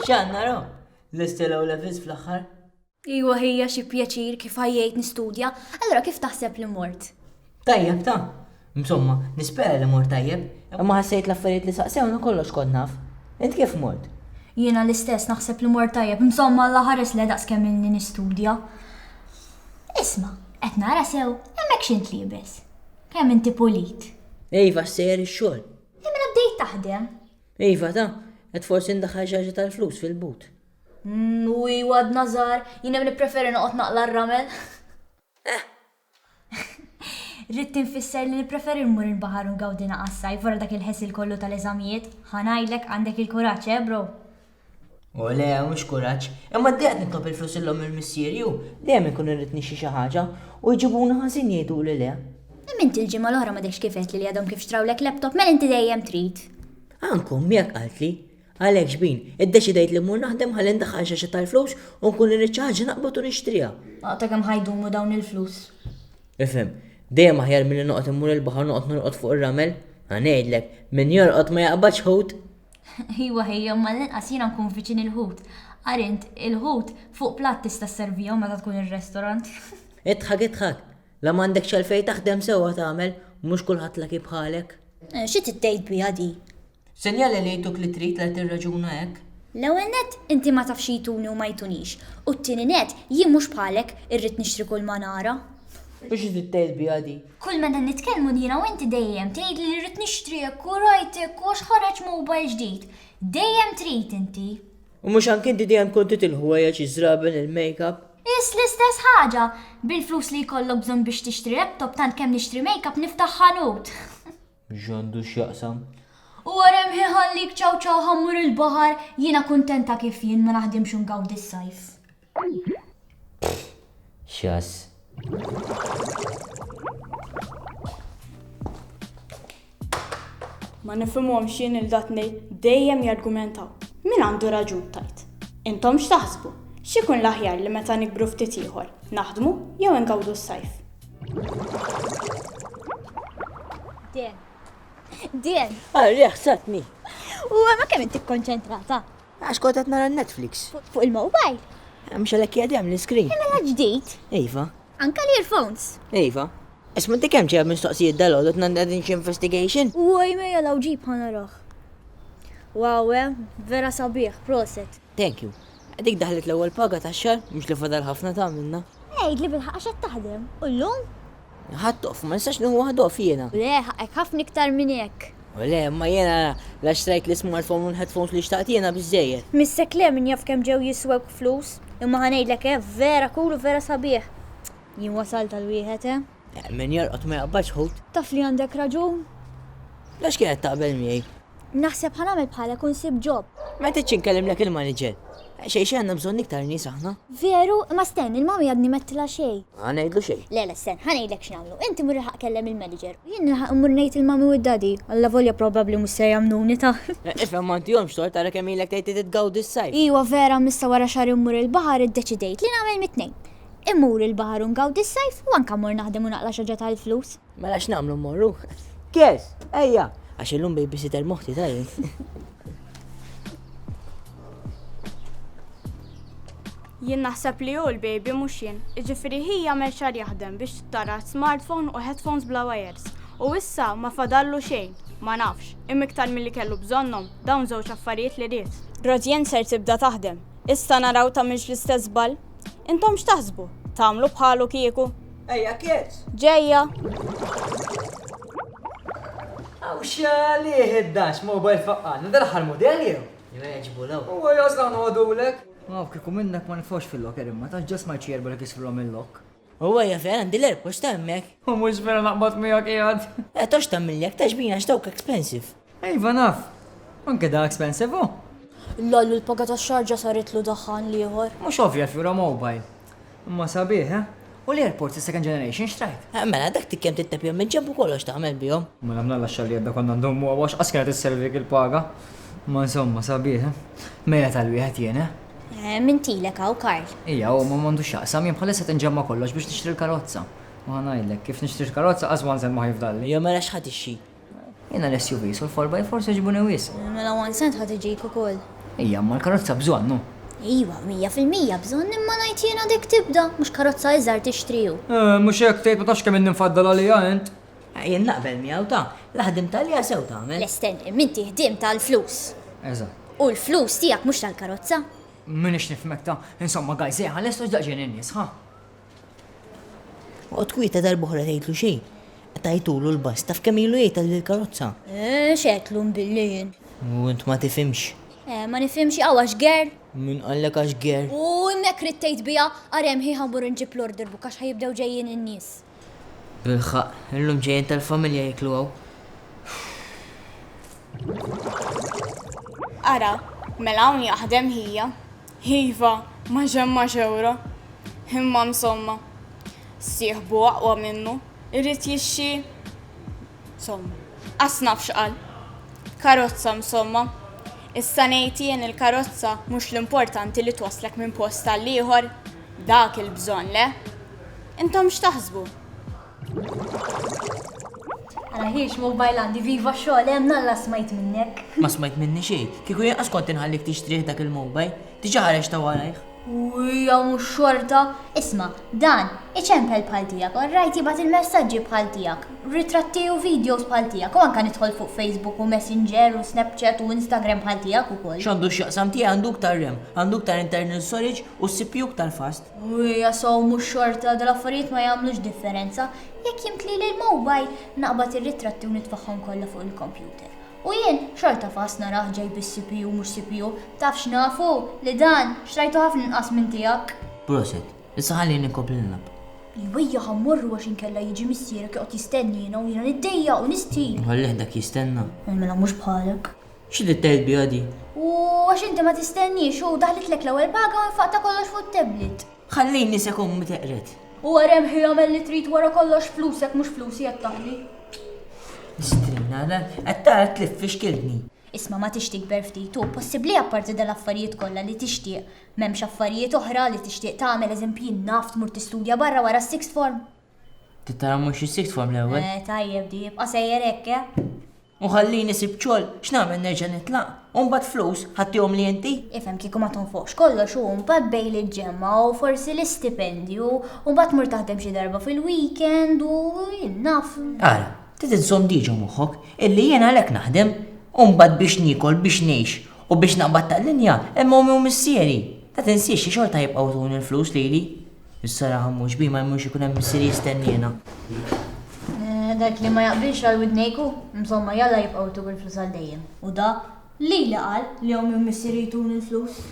Xan naraw, l-istelaw levis fl-axħar. Iwa hija xi pjaċir kif ħajjejt nistudja, allora kif taħseb li mort? Tajjeb ta' Insomma, nispera li mort tajjeb, imma ħassejt l-affarijiet li saqsewna kollox kont naf. Int kif mort? Jiena l-istess naħseb li mort tajjeb, insomma l ħares li daqs kemm inni nistudja. Isma, qed nara sew, hemmhekk xint libes. Kemm inti pulit? Iva, sejjer ix-xogħol. Imma mela bdejt taħdem. Iva, ta, qed forsi ndaħħal xi tal-flus fil-but. Mm, u iwa d-nazar, jina mni preferi noqot naqla r-ramel. Eh. Rittin fisser li preferi nmur il-bahar un gawdina għassaj, vora dak il-ħesil kollu tal-eżamijiet, ħanajlek għandek il-kuraċ, eh, bro? U le, mhux kuraġġ. Imma d qed nitlob il-flus illhom mill-missier ju, dejjem inkun irrid nixtri xi ħaġa, u jġibuni ħażin jgħiduli le. Imma inti l-ġimgħa l-oħra m'għadekx kif għedtli li għadhom kif xtrawlek laptop, mela inti dejjem trid. Anke ommi hekk qaltli. Għalhekk xbin, iddeċidejt li mmur naħdem ħalli ndaħħal xi xi tal-flus u nkun irrid xi ħaġa naqbad u nixtriha. O ta' kemm ħa jdumu dawn il-flus? Ifhem, dejjem aħjar milli noqgħod immur il-baħar u noqgħod norqod fuq ir-ramel. Ħa ngħidlek, min jorqod ma jaqbadx ħut. Iwa ħej, imma l-inqas jiena nkun viċin il-ħut. Ara int, il-ħut fuq platt tista' sservihom meta tkun ir-restorant. Idħak idħak! La m'għandekx għalfejn taħdem sewwa tagħmel, mhux kulħadd lucky bħalek. Xi trid tgħid biha di? Sinjali li jtuk li trid la tirraġuna hekk. L-ewwel nett, inti ma tafx xi jtuni u ma jtunix, u t-tieni nett, jien mhux bħalek, irrid nixtri kull ma nara. U xi trid tgħid biha di? Kull meta nitkellmu jiena u inti dejjem tgħidli li rrid nixtriek u rajtek u għax ħareġ mobile ġdid. Dejjem trid inti. U mhux anki inti dejjem tkun trid il-ħwejjeġ, iż-żraben, il-makeup? Is l-istess ħaġa! Bil-flus li jkollok bżonn biex tixtri laptop tant kemm nixtri makeup niftaħ ħanut. X'għandu x'jaqsam? U wara hemm ħin ħallik ċaw ċaw ħa mmur il-baħar, jiena kuntenta kif jien ma naħdimx u ngawdi s-sajf. X'jass. Ma nifhimhomx jien il dat ngħid dejjem jargumentaw. Min għandu raġun tgħid? Intom x'taħsbu? X'ikun l-aħjar li meta nikbru ftit ieħor, naħdmu jew ingawdu s-sajf? Dien. Dien. Arja ħsatni. U ma kemm inti kkonċentrata? Għax kont qed nara n-Netflix. Fuq il-mobile? Mhux għalhekk qiegħed hemm l-iscreen? E mela ġdid. Iva. Anke l-earphones? Iva. Isma' inti kemm ġejja mistoqsijiet dalgħodu qed ngħaddi xi investigation? Uoj mejja law ġibha naraħ. Wow eh, vera sabiħ, proset. Thank you. Dik daħlet l-ewwel paga tax-xahar, mhux li fadal ħafna tagħmilna. Għidli bil-ħaqq għax qed taħdem? U llum? Ħadd off, ma nistax nieħu waħda off jiena. Le, ħaqqek ħafna iktar minn hekk. Le, imma jiena la xtrajt l-ismartphone u l-headphones li xtaqt jiena biżżejjed. Missek le, min jaf kemm ġew jiswewk flus. Imma ħa ngħidlek eh, vera cool u vera sabiħ. Jien wasalt għal wieħed eh. Min jorqod ma jaqbadx ħut. Taf li għandek raġun. La x'kienet taqbel miegħi? Naħseb ħa nagħmel bħalek u nsib job. Ma ridtx inkellimlek il-manager. Xejn xejn għandna bżonn iktar nies aħna. Veru? Imma stenn, il-mommy għadni m'għedtilha xejn. Ħa ngħidlu xejn. Le le stenn, ħa ngħidlek x'nagħmlu. Inti mur ilħaq kellem il-manager u jien nilħaq immur ngħid il-mommy u d-daddy, allavolja probabbli mhux ser jagħmluni ta'. Ifhem ma ntihomx tort ara kemm ilek tgħid li trid tgawdi s-sajf. Iwa vera imma issa wara xahar immur il-baħar iddeċidejt li nagħmel mit-tnejn. Immur il-baħar u ngawdi s-sajf u anke mmur naħdem u naqla' xi ħaġa tal-flus. Mela x'nagħmlu mmorru? Kes, ejja! Għax illum babysitter moħti ta' jien. Jien naħseb li hu l-baby mhux jien. Iġifieri hi jagħmel xar jaħdem biex tara smartphone u headphones bla wajers. U issa ma fadallu xejn. Ma nafx, imma iktar milli kellu bżonnhom, dawn żewġ affarijiet li ried. Rosie ser tibda taħdem. Issa naraw tagħmilx l-istess żball. Intom x'taħsbu? Tagħmlu bħalu kieku? Ejja kiet! Ġejja! Aw xalih id-dax mobile faqqan, dan aħħar mudell jew? Jew jgħiġbu law. Huwa jgħożla nħodulek. Aw kieku minnek ma nifgħux fil-locker imma tax ġasma jċierbu li kisrulhom il-lock. U għajja fejn għandi l-airpods ta' hemmhekk. U mhux vera naqbad miegħek qiegħed. Eh tox tagħmilli hekk ta' xbin għax dawk expensive. Iva naf. Anke da expensive hu. L-għallu l-paga tax-xarġa saritlu daħħan l-ieħor. Mhux ovvja fjura mobile. Imma sabiħ, eh? U l-airpods is-second generation x'trajt? Eh, mela dak ti kemm tittepjhom minn ġenb u kollox tagħmel bihom. Mela mnalla xalli għadda konna ndummu għax qas kienet isservi dik il-paga. Ma insomma sabiħ, eh? Mejja tal-wieħed jien, eh? Min tilek hawn, Karl? Ija, hu ma m'għandu x'jaqsam, jien bħalissa qed inġemma' kollox biex nixtri l-karozza. U ħa ngħidlek, kif nixtri l-karozza qas one cent ma ħa jifdalli. Ija, mela x'ħa tixtri? Jiena l-SUVs u l-four by fours jogħġbuni wisq. Mela one cent ħa tiġik ukoll. Ija, imma l-karozza bżonn, hu. Iva, mija fil-mija bżonn, imma ngħid jiena dik tibda, mhux karozza iżgħar tixtri, hu. Mhux hekk tgħid, ma tafx kemm inni mfaddal għaliha int. Jien naqbel miegħu ta, la ħdimtha liha sew tagħmel. Le stenni, m'inti ħdiemt għall-flus. Eżatt. U l-flus tiegħek mhux tal-karozza. M'iniex nifhmek ta, insomma guys ejja ħallestu x'daqsxejn in-nies, ħa? Oqgħod kwieta darb'oħra tgħidlu xejn. Qtajtulu l-bass, taf kemm ilu jgħid għandi l-karozza? Eh, x'għedtlu mbilli jien? U int ma tifhimx. Eh, ma nifhimx hawn għax ger? Min qallek għax ger? U hemmhekk rid tgħid biha, ara hemm ħieħ ħammur nġib l-order book għax ħajibdew ġejjin in-nies. Bilħaq, illum ġejjin tal-familja jieklu hawn. Ara, mela hawn jaħdem ħija. Iva, ma ġemma xewra. Imma msomma. Sieħbu aqwa minnu, irid jixxi Somma. Qas naf x'qal. Karozza msomma. Issa ngħid jien il-karozza mhux l-importanti li twasslek minn post għal ieħor? Dak il-bżonn, le? Intom x'taħsbu? Ara ħiex mobile għandi viva xogħol hemm nalla smajt minnek. Ma smajt minni xejn. Kieku jien qas kont inħallik tixtrih dak il-mobile. Diġa ħareġ ta' warajh. Uja mhux xorta. Isma, dan, iċempel bħal tiegħek, orrajt jibgħat il-messaġġi bħal tiegħek, ritratti u videos bħal tiegħek, u anke nidħol fuq Facebook u Messenger u Snapchat u Instagram bħal tiegħek ukoll. X'għandu x'jaqsam tiegħi għandu ktar rem, għandu ktar internal storage u s-CPU ktar fast. Uja so mhux xorta, dal-affarijiet ma jagħmlux differenza. Jekk jimtli l-mobile, naqbad ir-ritratti u nitfaħħom kollha fuq il-computer. U jien xorta fast narah ġej bis CPU mhux CPU, taf x'nafu? Li dan, xtrajtu ħafna inqas minn tiegħek. Proset. Issa ħalli jien inkompli nilgħab. Jwejjaħ ha mmorru għax inkella jiġi missierek joqgħod jistenniena u jiena niddejjaq u nistħi. Nħallih dak jistenna. Ej mela mhux bħalek. Xi trid tgħid biha di? U għax inti ma tistenniex, hu daħlitlek l-ewwel paga u infaqt ta' kollox fuq it-tablet. Ħallini se kommi teqred. Huwa remħi jagħmel li trid wara kollox flusek mhux flusi qed taħli. Strinna, qed tara tlif fi xkiltni. Isma ma tixtik berftit u possibbli apparti dal-affarijiet kollha li tixtieq m'hemmx affarijiet oħra li tixtieq tagħmel eżempji naf tmur tistudja barra wara s-sixth form. Tittara mhux is-sixth form l-ewwel. Eh, tajjeb di, jibqa' sejjer hekk, eh? U ħallini sibt xogħol, x'nagħmel nerġa' nitlaq? U mbagħad flus, ħadthihom li inti? Ifhem kieku ma tonfoqx kollox u mbagħad bejn li ġġemma u forsi l-istipendju u mbagħad tmur taħdem xi darba fil-weekend u jien naf. Ara, trid inżomm diġa moħħok illi jien għalhekk naħdem u mbagħad biex niekol, biex ngħix u biex naqbad tal-linja hemm ommi u missieri. La tinsiex li xorta jibqgħu jtuni l-flus lili. Issa raħa mhux bi ma jmurx ikun hemm missieri jistenniena. Eh, dak li ma jaqbilx għal widnejku, insomma jalla jibqgħu jtuk il-flus għal dejjem. U da li li qal li jom minn missieri jtun il-flus.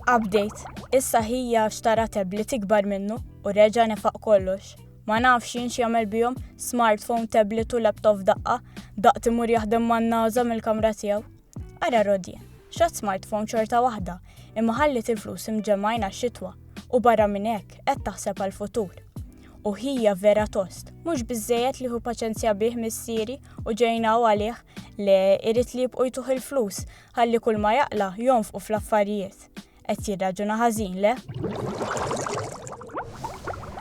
Update. Issa ħija xtara tablet ikbar minnu u reġa' nefaq kollox. Ma nafx jien x'jagħmel bihom smartphone, tablet u laptop daqqa, daqt imur jaħdem man-naża mill-kamra tiegħu. Ara Rodie, x'għad smartphone xorta waħda, imma ħalliet il-flus imġemmgħin għax-xitwa u barra minn hekk qed taħseb għall-futur. U ħija vera tost, mhux biżżejjed li hu paċenzja bih missieri u ġejnaw għalih le irid li jibqgħu jtuh il-flus ħalli kull ma jaqla' jonfqu fl-affarijiet. Qed jirraġuna ħażin, le?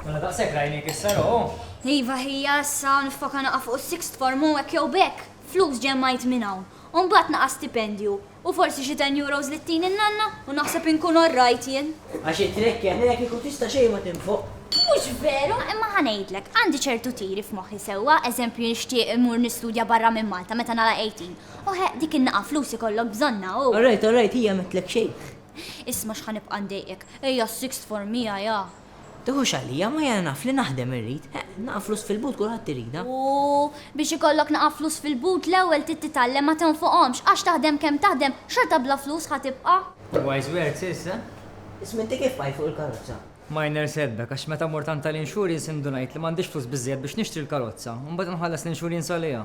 Mela daqshekk rajnik issa, Ro? Iva ħija issa niffoka naqa' fuq is-sixth form u hekk jew b'hekk flus ġemmajt minn hawn. U mbagħad naqa' stipendju u forsi xi ten euros li ttini n-nanna u naħseb inkun all right jien. Għax it-trekk hemmhekk kieku tista' xejn ma tinfoq. Mhux veru, imma ħa ngħidlek, għandi ċertu tiri f'moħħi sewwa, eżempju nixtieq immur nistudja barra minn Malta meta nagħlaq 18 O he, dik in-naqa' flus ikollok bżonnha hu! All right, all right, hija m'għedtlek xejn. Isma' x'ħa nibqa' ndejqek, ejja s-sixth form miegħi ha! Tiħux għalija, ma jiena naf li naħdem irrid. He, naqa' flus fil-but kulħadd iridha. U biex ikollok naqa' flus fil-but l-ewwel trid titgħallem ma tonfoqhomx, għax taħdem kemm taħdem, xorta bla flus ħa tibqa'. Wise words, sis, eh? Isma' inti kif qajt fuq il-karozza? minor setback, għax meta mort għand tal-insurance indunajt li m'għandix flus biżżejjed biex nixtri l-karozza, u mbagħad inħallas l-insurance għaliha.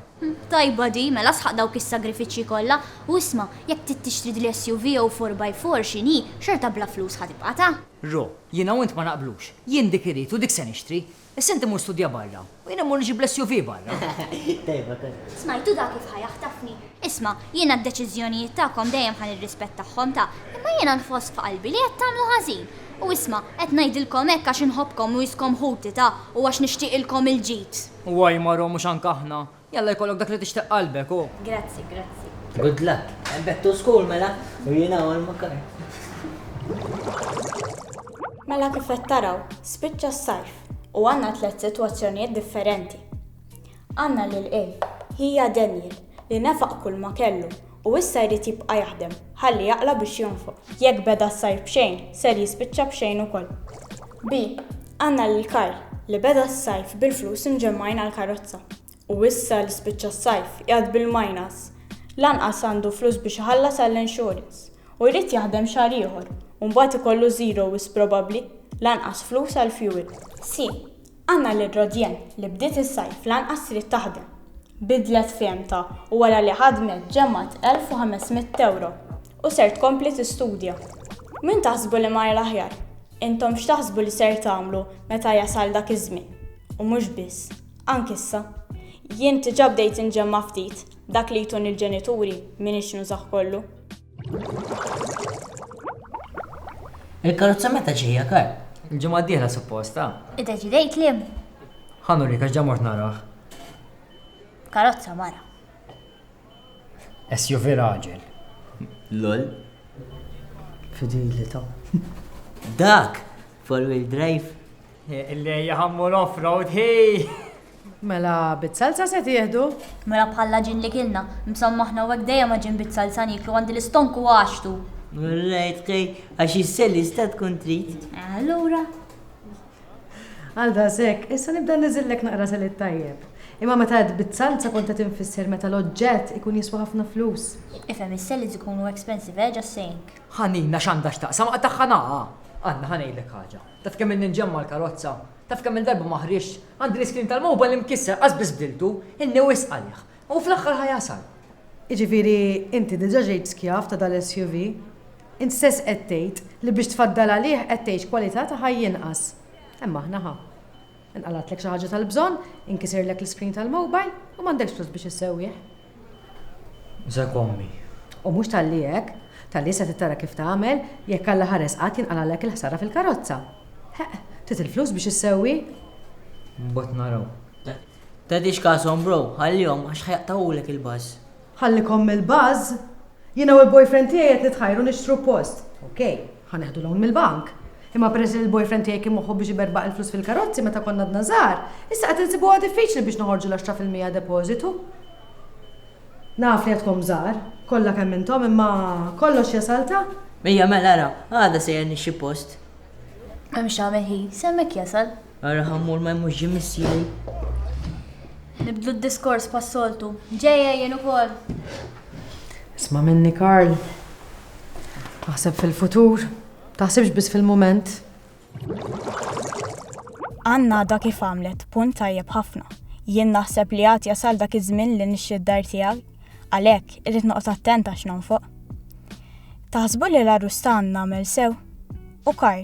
Tajba di, mela sħaq dawk is-sagrifiċċji kollha, u isma', jekk trid tixtri dil-SUV jew 4 by 4 x'inhi, xorta bla flus ħa tibqgħatha. Ro, jiena u int ma naqblux. Jien dik irrid u dik se nixtri. Issa inti mur studja barra u jien immur nġib l-SUV barra. Tajba kont. Smajtu dak kif ħa jaħtafni? Isma', jiena d-deċiżjonijiet tagħkom dejjem ħa nirrispettahhom ta', imma jiena nħoss f'qalbi li qed tagħmlu ħażin. U isma', qed ngħidilkom hekk għax inħobbkom u jiskom ħuti ta', u għax nixtieqilkom il-ġid. U ajmarhom mhux anke aħna Jalla jkollok dak li tixtieq qalbek, u. Grazzi, grazzi. Good luck. And back to school mela, u jiena għal makar. Mela kif qed taraw, spiċċa s-sajf u għandna tliet sitwazzjonijiet differenti. Għandna lil A, hija Daniel, li nefaq kull ma kellu U issa jrid jibqa' jaħdem, ħalli jaqla' biex jonfoq. Jekk beda s-sajf b'xejn, ser jispiċċa b'xejn ukoll. B, Għandna lil Karl, li beda s-sajf bil-flus imġemmgħin għall-karozza. U issa li spiċċa s-sajf, qiegħed bil-minus. Lanqas għandu flus biex iħallas għall-insurance. U jrid jaħdem xahar ieħor, u mbagħad ikollu zero wisq probabbli, lanqas flus għall-fuel. C, Anna Ledrodien, li bdiet is-sajf l-anqas trid taħdem, bidlet fehmtha u wara li ħadmet ġemgħet 1,500 ewro u ser tkompli tistudja. Min taħsbu li mar l-aħjar? Intom x'taħsbu li ser tagħmlu meta jasal dak iż-żmien? U mhux biss, anki issa. Jien diġà bdejt inġemma' ftit, dak li jtuni l-ġenituri m'iniex nużah kollu. Il-karozza meta ġejja kar? Il-ġimgħa d-dieħla suppost, ah. Iddeċidejt li? Ħanu li kax ġa mort narah. Karozza mara. SUV raġel. Lol. Fidelità. Dak! Four-wheel drive. Illi jħammu l-off-road, hej! Mela bit-salsa se tieħdu? Mela bħall-għaġin li kilna. Msomma aħna hawnhekk dejjem għaġin bit-salsa nieklu, għandi l-istonku għaxtu! Alright ħej, għax is-selis ta' tkun trid. Allura. Għal daqshekk, issa nibda niżillek naqra selit tajjeb. Imma meta għedt bit-salsa kont qed infisser meta l-oġġett ikun jiswa ħafna flus. Ifhem, is-selis ikunu expensive, eh, just saying. Ħanina x'għandha x'taqsam, tagħha naqa'! Anna, ħa ngħidlek ħaġa. Taf kemm ilni nġemma' l-karozza? Taf kemm-il darba ma ħriġt? Għandi l-iskrin tal-mobile imkisser, qas biss bdiltu, inni wisq għalih. U fl-aħħar ħa jasal. Jiġifieri inti diġa ġejt skjav ta' dal-SUV? Int stess qed tgħid li biex tfaddal għalih qed tgħix kwalità ta' ħajja inqas. Hemm aħna ħa. Inqalgħatlek xi ħaġa tal-bżonn, inkisirlek l-iskrin tal-mobile, u m'għandekx flus biex issewwih. Żak ommi. U mhux talli hekk, talli issa trid tara kif tagħmel jekk Alla ħares qatt jinqalagħlek il-ħsara fil-karozza. Heq, trid il-flus biex issewwi. Mbagħad naraw. Tagħtix kashom bro, ħallihom għax ħa jaqtgħulek il-buzz. Ħallikom mill-buzz? Jiena u l-boyfriend tiegħi qed nitħajru nixtru post, ok. Ħa neħdu loan mill-bank. Imma peress li l-boyfriend tiegħi kien moħħu biex iberbaq il-flus fil-karozzi meta konna għadna żgħar, issa qed insibuha diffiċli biex noħorġu l-għaxra fil-mija depożitu. Naf li għadkom żgħar, kollha kemm intom, imma kollox jasal ta'. Ejja mela ara, għada sejjer nixxi post. M'hemmx x'agħmel hi, s'hemmhekk jasal. Ara Ħammur ma jmurx ġie missieri. Nibdlu d-diskors bħas-soltu. Ġejja jien ukoll. Isma' minni Karl. Aħseb fil-futur. Taħsibx biss fil-mument. Ann għadha kif għamlet punt tajjeb ħafna. Jien naħseb li għad jasal dak iż-żmien li nixxi d-dar tiegħi. Għalhekk, irrid noqgħod attent għax nonfoq. Taħsbu li l-arrustan nagħmel sew? u Karl.